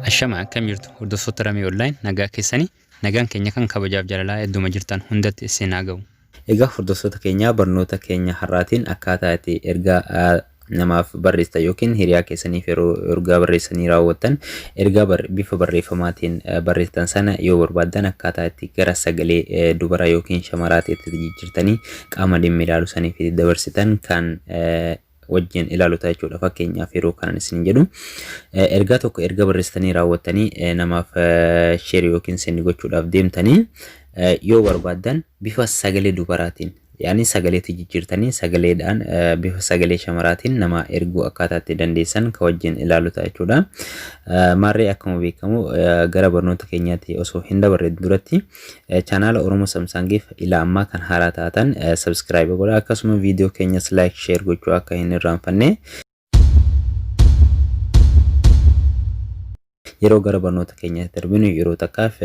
Ashama akkam jirtu hordoftoota Ramee Online nagaa keessanii nagaan keenya kan kabajaaf jaalalaa hedduma jirtan hundatti isin haa ga'u. Egaa hordoftoota keenyaa barnoota keenya har'aatiin akkaataa itti ergaa namaaf barreessitan yookiin hiriyaa keessaniif yeroo ergaa barreessanii raawwattan ergaa bar- bifa barreeffamaatiin eh, barreessitan sana yoo barbaaddan akkaataa itti gara sagalee eh, dubaraa yookiin shamaraatti itti jijjiirtanii qaama dhimmi ilaalu saniif itti dabarsitan kan eh, wajjin ilaalu ta'a jechuudha fakkeenyaaf yeroo kanan isin jedhu eh, ergaa tokko erga barreessitanii raawwattanii eh, namaaf eh, share yookiin send gochuudhaaf deemtanii eh, yoo barbaaddan bifa sagalee dubaraatiin Yaani sagaleetti jijjiirtanii sagaleedhaan bifa sagalee shamaraatiin nama erguu akkaataa itti dandeessan ka wajjin ilaalu ta'a jechuudha. Maarree akkuma beekamu gara barnoota keenyaatti osoo hin dabarre duratti chaanaala Oromoo Samsaangiif ila ammaa kan haaraa taatan sabskiraayib godha akkasuma viidiyoo keenyas laayik sheer gochuu akka hin irraanfanne. Yeroo gara barnoota keenyaatti darbinu yeroo takkaaf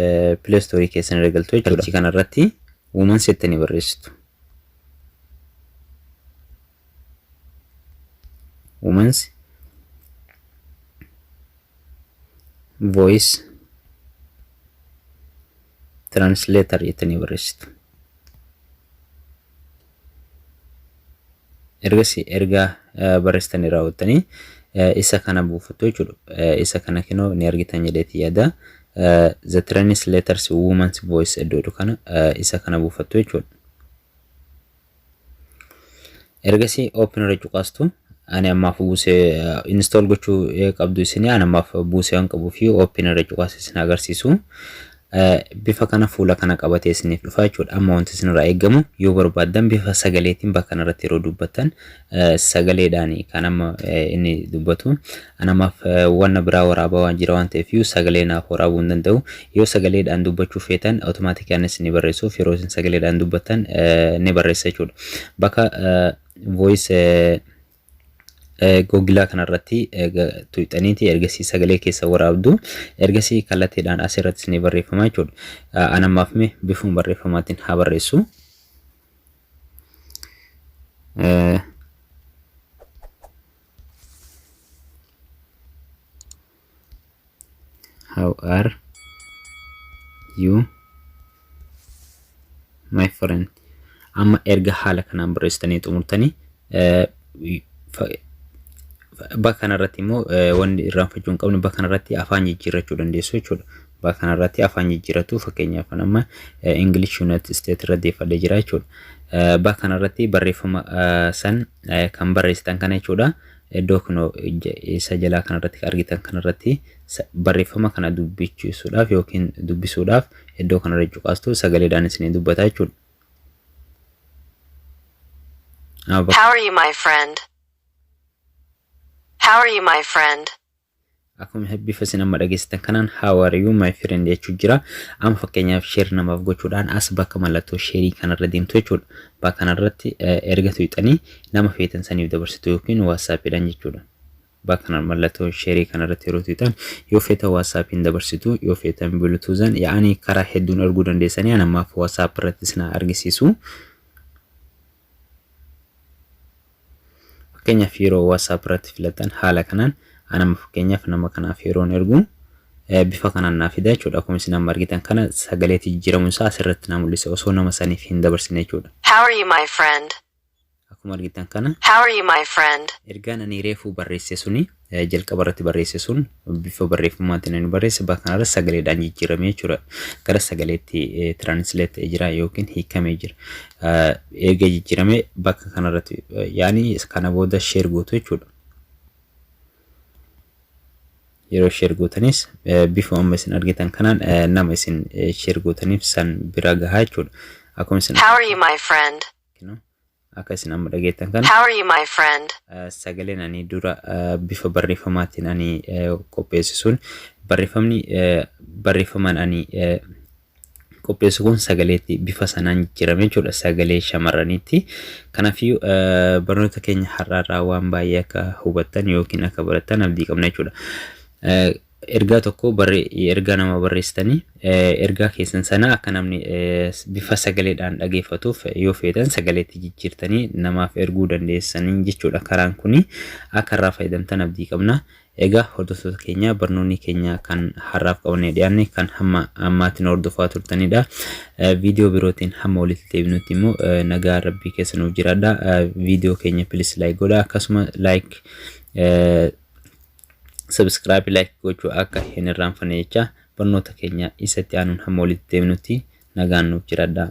Play Store keessan irra galtu jechuudha. Achii kana irratti Woman settanii barreessitu. Woman's voice translator jettanii barreessitu. ergasii erga barreessitanii raawwattanii isa kana buufattu jechuudha. Isa kana kinoo ni argitan jedheeti yaada. The train's letters woman's voice iddoo kana isa kana buufattu jechuudha. Ergasii open irra cuqaastu. ani ammaaf buuse install gochuu qabdu isin ani ammaaf buuse waan qabu fi open irra cuqaas isin agarsiisu bifa kana fuula kana qabatee isiniif dhufa jechuudha amma wanti isin irraa eegamu yoo barbaaddan bifa sagaleetiin bakka kanarratti yeroo dubbattan sagaleedhaan kan amma inni dubbatu ani ammaaf wanna biraa waraabaa waan jira waan ta'eef iyyuu sagalee naaf waraabuu hin danda'u yoo sagaleedhaan dubbachuu feetan automaatikaanis ni barreessuuf yeroo isin sagaleedhaan dubbattan ni barreessa jechuudha bakka voice googilaa kanarratti tuqxaniiti ergasii sagalee keessa waraabdu ergasii kallattiidhaan asirratti isinii barreeffama jechuudha. Anammaaf mee bifuun barreeffamaatiin haa barreessu. How are you my friend amma erga haala kanaan barreessitanii xumurtanii eh, fa- fa- bakka kanarratti immoo eh, wanni irraanfachuu hin qabne bakka kanarratti afaan jijjiirrachuu dandeessu jechuudha. Bakka kanarratti afaan jijjiirratu fakkeenyaaf kan amma eh, English United States irra deeffadhee jira jechuudha. Eh, Bakka kanarratti barreeffama eh, san eh, kan barreessitan kana jechuudha. Iddoo kun isa jalaa kanarratti argitan kanarratti barreeffama kana dubbichuudhaaf yookiin dubbisuudhaaf iddoo kanarra cuqaastu sagaleedhaan isinii dubbata jechuudha. How are you my friend? How are you my friend? Akkuma hin bifa isin amma dhageessitan kanaan how are you my friend jechuu jira. Amma fakkeenyaaf share namaaf gochuudhaan as bakka mallattoo sheerii kanarra deemtu jechuudha. Bakka kanarratti erga tuqxanii nama feetan saniif dabarsitu yookiin waatsaappiidhaan jechuudha. Bakka kana mallattoo sheerii kanarratti yeroo tuqxan yoo feetan waatsaappiin dabarsitu yoo feetan bilutuuzan yaa'anii karaa hedduun erguu dandeessanii an ammaaf waatsaappi irratti isin argisiisu. Fakkeenyaaf yeroo WhatsApp irratti filattan haala kanaan anama fakkeenyaaf nama kanaaf yeroon ergu bifa kanaan naa fida jechuudha. Akkuma isin amma argitan kana sagaleetti jijjiiramuun isaa asirratti naa mul'isa osoo nama saniif hin dabarsine jechuudha. How are you, my friend? Akkuma argitan kana How are you, my friend? ergaan ani reefuu barreesse suni jalqaba irratti barreesse sun bifa barreeffamaatiin inni barreesse bakka kanarra sagaleedhaan jijjiiramee jira. Gara sagaleetti tiraanisleet jira yookiin hiikamee jira. Eega jijjiiramee bakka kanarratti yaani kana booda sheer gootu jechuudha. Yeroo sheer gootanis bifa amma isin argitan kanaan nama isin sheer gootaniif san bira gahaa jechuudha. Akkuma isin How are you, my friend? Kino akka isin amma dhageettan kana How are you, my friend? eh, sagaleen ani dura eh, bifa barreeffamaatiin ani eh, qopheesse sun barreeffamni eh, barreeffamaan ani eh, qopheessu kun sagaleetti bifa sanaan jijjiirame jechuudha sagalee shamarraniitti kanaafiyyuu eh, barnoota keenya har'aarraa waan baay'ee akka hubattan yookiin akka barattan abdii qabna jechuudha Eh, Ergaa tokko ergaa nama barreessitanii ergaa keessan sana akka namni bifa sagaleedhaan dhageeffatuuf yoo feetan sagaleetti jijjiirtanii namaaf erguu dandeessanii jechuudha karaan kuni akka irraa fayyadamtan abdii qabna. Egaa hordoftoota keenya barnoonni keenya kan har'aaf qabannee dhiyaanne kan hamma ammaatiin hordofaa turtanidha. Viidiyoo birootiin hamma walitti deebinutti immoo nagaa rabbii keessa nuuf jiraadha. Viidiyoo keenya pilis laayik godha akkasuma laayik Subscribe like gochuu akka hin irraanfanne jechaa barnoota keenya isa itti aanuun hamma walitti deebinutti nagaan nuuf jiradhaa.